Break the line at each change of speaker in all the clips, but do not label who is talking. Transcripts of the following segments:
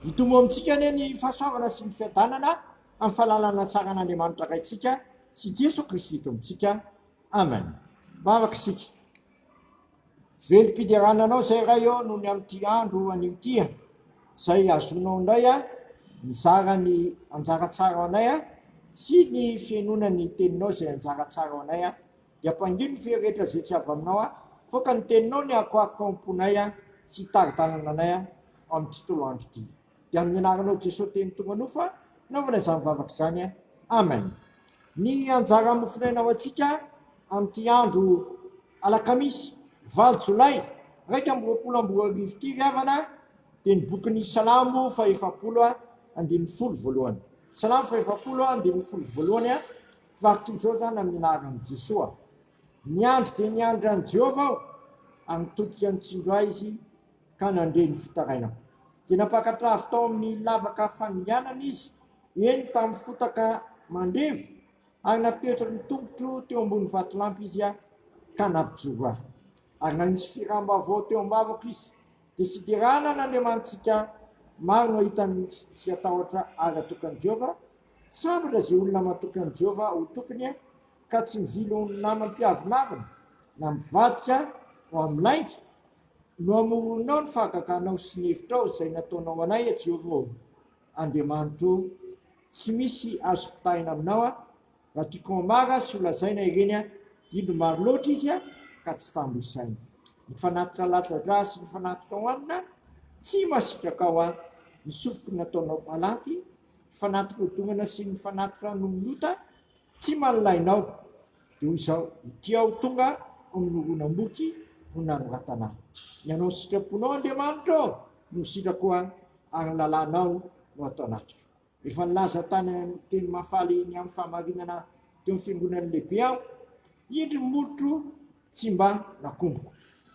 Mitombo amintsika anie ny fahasoavana sy ny fiadanana amin'ny fahalalana tsara an'Andriamanitra Raintsika sy Jesoa Kristy Tompontsika. Amen. Vavaka isika. Velom-piderana Anao izay Ray ô noho ny amin'ity andro anio ity a. Izay azonao indray a mizara ny anjara tsara ao anay a sy ny fihainoana ny Teninao izay anjara tsara ao anay a. Dia ampangino ny feo rehetra izay tsy avy aminao a! Avoaka ny teninao ny akoako ao am-ponay a! Sy hitari-dalana anay a! amin'ny tontolo andro ity. Dia amin'ny anaranao Jesoa teny tonga nofo a! Naovana izany vavaka izany a! Amen! Ny anjara mofonaina ho antsika amin'ity andro alakamisy valo jolay iraika amby roapolo amby roa arivo ity ry havana dia ny bokin'ny Salamo fahefapolo andininy folo voalohany. Salamo fahefapolo andininy folo voalohany a! Fa toy izao izany amin'ny anaran'i Jesoa, Niandry dia niandry an'i Jehovah aho, ary nitodika nitsinjo ahy izy ka nandre ny fitarainako. Dia nampakatra avy tao amin'ny lavaka fandianana izy, eny, tamin'ny fotaka mandevo, ary napetrany ny tongotro teo ambony vatolampy izy ka nampijoro ahy. Ary nanisy firàm-baovao teo am-bavako izy. Dia fiderana an'Andriamanitsika, maro no hahita ny tsy hatahotra azy atokan'i Jehovah Tsy ampy raha izay olona matoky an'i Jehovah ho tompony ka tsy mivily ho namam-piavonavina na mivadika ho amin'ny lainga, no hamoronao ny fahagaganao sy ny hevitrao izay nataonao anay, a Jehovah ô Andriamanitro ô. Tsy misy azo mpitahina aminao, a! Raha tiako hamaga sy holazaina ireny, dia indro maro loatra izy ka tsy tambo isaina. Ny fanatitra latsa-drà sy ny fanatitra hohanina tsy masitraka ao, a! Ny sofiko nataonao palaty ny fanatiko hodongana sy ny fanatiko ranon'ny ota tsy manilainao dia hoy izao ity aho tonga ho ny horonam-boky no nanoratana ny anao sitraponao Andriamanitra ô no sitrako an ary ny lalànao no ato anatiko efa nilaza tany amin'ny teny mahafaly ny amin'ny fahamarinana teo amin'ny fiangonan'ny lehibe aho indry ny molotro tsy mba nakomboko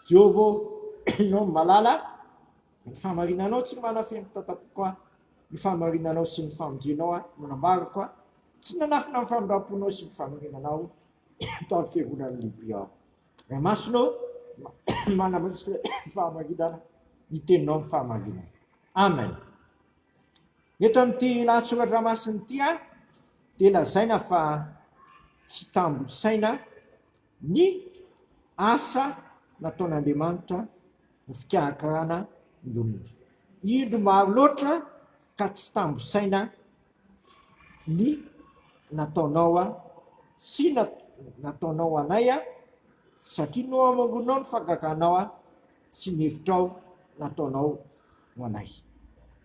Jehovah ô ianao no malala Ny fahamarinanao tsy manafehy ny tatapoako aho, ny fahamarinanao sy ny famonjenao aho no nambarako aho, tsy nanafina ny famindramponao sy ny fanorenanao tamin'ny fiangonan'ny lehibe aho. Ray masina ô, manamaiska ny fahamarinana, ny teninao ny fahamarinana. Amen. Eto amin'ity lahatsoratra masina ity dia lazaina fa tsy tambo isaina Ny asa nataon'Andriamanitra ho fikarakarana ny olona. Indro maro loatra ka tsy tambo saina ny nataonao sy nataonao anay satria nohamangoninao ny fahagaganao sy ny hevitrao nataonao ho anay.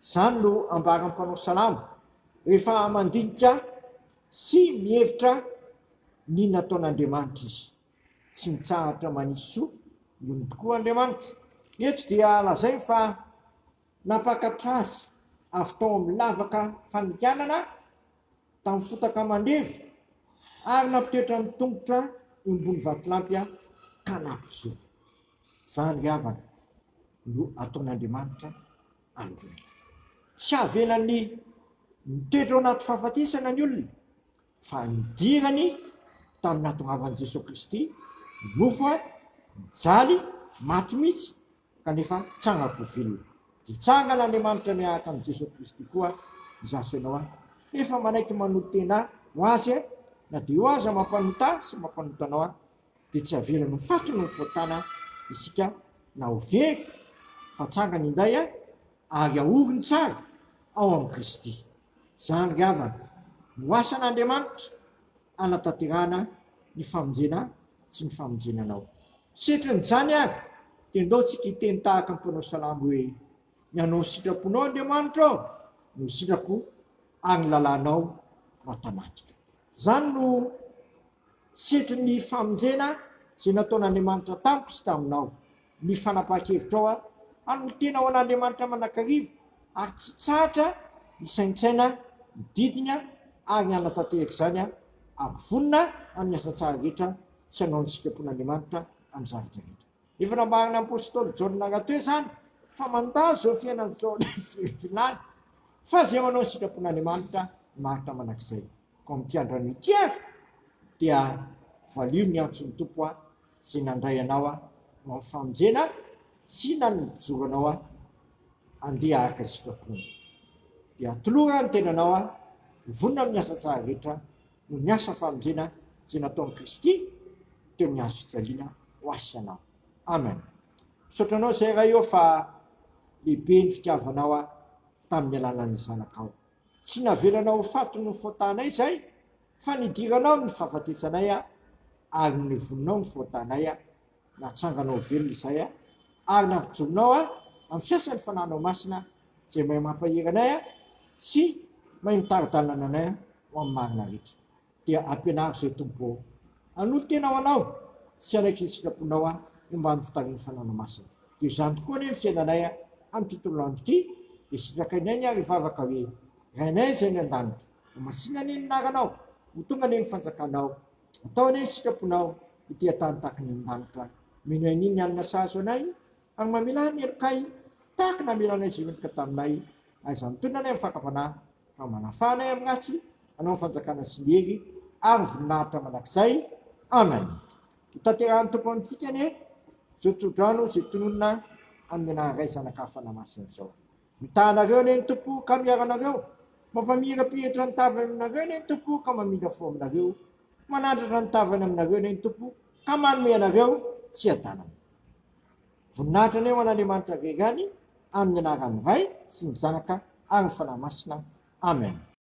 Izany no ambaran'ny mpanao salamo rehefa mandinika. Sy mihevitra ny nataon'Andriamanitra izy. Tsy mitsahatra manisy soa ny olony tokoa Andriamanitra. Eto dia lazainy fa nampakatra azy avy tao amin'ny lavaka fanikanana tamin'ny fotaka mandevy ary nampitoetra ny tongotra eo ambony vatolampy ka nampijoro. Izany ry havana no ataon'Andriamanitra. Androy. Tsy havelan'ny mitoetra ao anaty fahafatesana ny olona, fa nidirany tamin'ny nahatongavan'i Jesoa Kristy nofo ary nijaly maty mihitsy kanefa tsanga koa velona. Dia tsangana Andriamanitra miaraka amin'i Jesoa Kristy koa izaho sy ianao an! Rehefa manaiky manolo-tena ho Azy na dia eo aza mampanota ahy sy mampanota anao aho, dia tsy havelany ho faty noho ny fahotana isika na ho very fa tsangany indray ary ahoriny tsara ao amin'i Kristy. Izany ry havana no asan'Andriamanitra hanatanterahana ny famonjena sy ny famonjena anao. Setrin'izany ary dia ndaontsika hiteny tahaka ny mpanao salamo hoe, Ny hanao ny sitraponao Andriamanitra ô, no sitrako ary ny lalànao no atamaniko. Izany no. Setry ny famonjena izay nataon'Andriamanitra tamiko sy taminao, ny fanapahan-kevitrao aho hanolo-tena ho an'Andriamanitra mandrakariva ary tsy tsahatra hisaintsaina ny didiny ary hanatanteraka izany aho ary vonona amin'ny asa tsara rehetra sy hanao ny sitrapon'Andriamanitra amin'ny zavatra rehetra. Efa nambaran'ny apostoly Jaona rahateo izany fa mandalo izao fiainana izao na izy irery tsy lany fa izay manao ny sitrapon'Andriamanitra no maharitra mandrakizay. Koa amin'ity andro anio ity ary dia valio ny antson'ny Tompo aho izay nandray anao aho ho amin'ny famonjena aho sy nanojoro anao aho handeha araka ny sitraponao. Dia atoloran ny tenanao aho ho vonona amin'ny asa tsara rehetra noho ny asa famonjena izay nataon'i Kristy teo amin'ny hazo fijaliana ho ahy sy anao. Amen. Misaotra anao izay Ray ô fa lehibe ny fitiavanao ahy tamin'ny alalan'ny Zanakao. Tsy navelana ho faty noho ny fahotanay izay, fa nidiranao ny fahafatesanay ary nivoninao ny fahotanay, natsangana ho velona izay, ary nampijoronao aho amin'ny fiasan'ny Fanahinao Masina izay mahay mampahery anay sy mahay mitari-dalana anay ho amin'ny marina rehetra. Dia ampianaro izay Tompo ô. Hanolo-tena ho Anao sy hanaiky izay sitraponao aho momba ny fitarihan'ny fanaonao masina. Toy izany tokoa anie ny fiainanay amin'ity tontolo andro ity, dia sitrakainay ny ary hivavaka hoe, Rainay izay any an-danitra, ho masina anie ny anaranao, ho tonga anie ny fanjakanao, atao anie ny sitraponao ety an-tany tahaka ny any an-danitra. Mino an'iny ny alina sahazo anay, ary mamela ny helokay tahaka namelanay izay mendrika taminay Aiza ny tolona anay amin'ny fakam-panahy, fa manafaha anay amin'ny ratsy, hanao ny fanjakana sy ny hery ary ny voninahitra mandrakizay. Amen. Hotanterahin'ny Tompo amintsika anie izao tsodrano izay tononina amin'ny anaran'ny Ray, Zanaka ary Fanahy Masina izao. Mitaha anareo anie ny Tompo ka miaro anareo, mampamira-pihetra ny tavany aminareo anie ny Tompo ka mamindra fo aminareo, manandratra ny tavany aminareo anie ny Tompo ka manome anareo fiadanana. Voninahitra anie ho an'Andriamanitra rery any, amin'ny anaran'ny Ray sy ny Zanaka ary ny Fanahy Masina. Amen.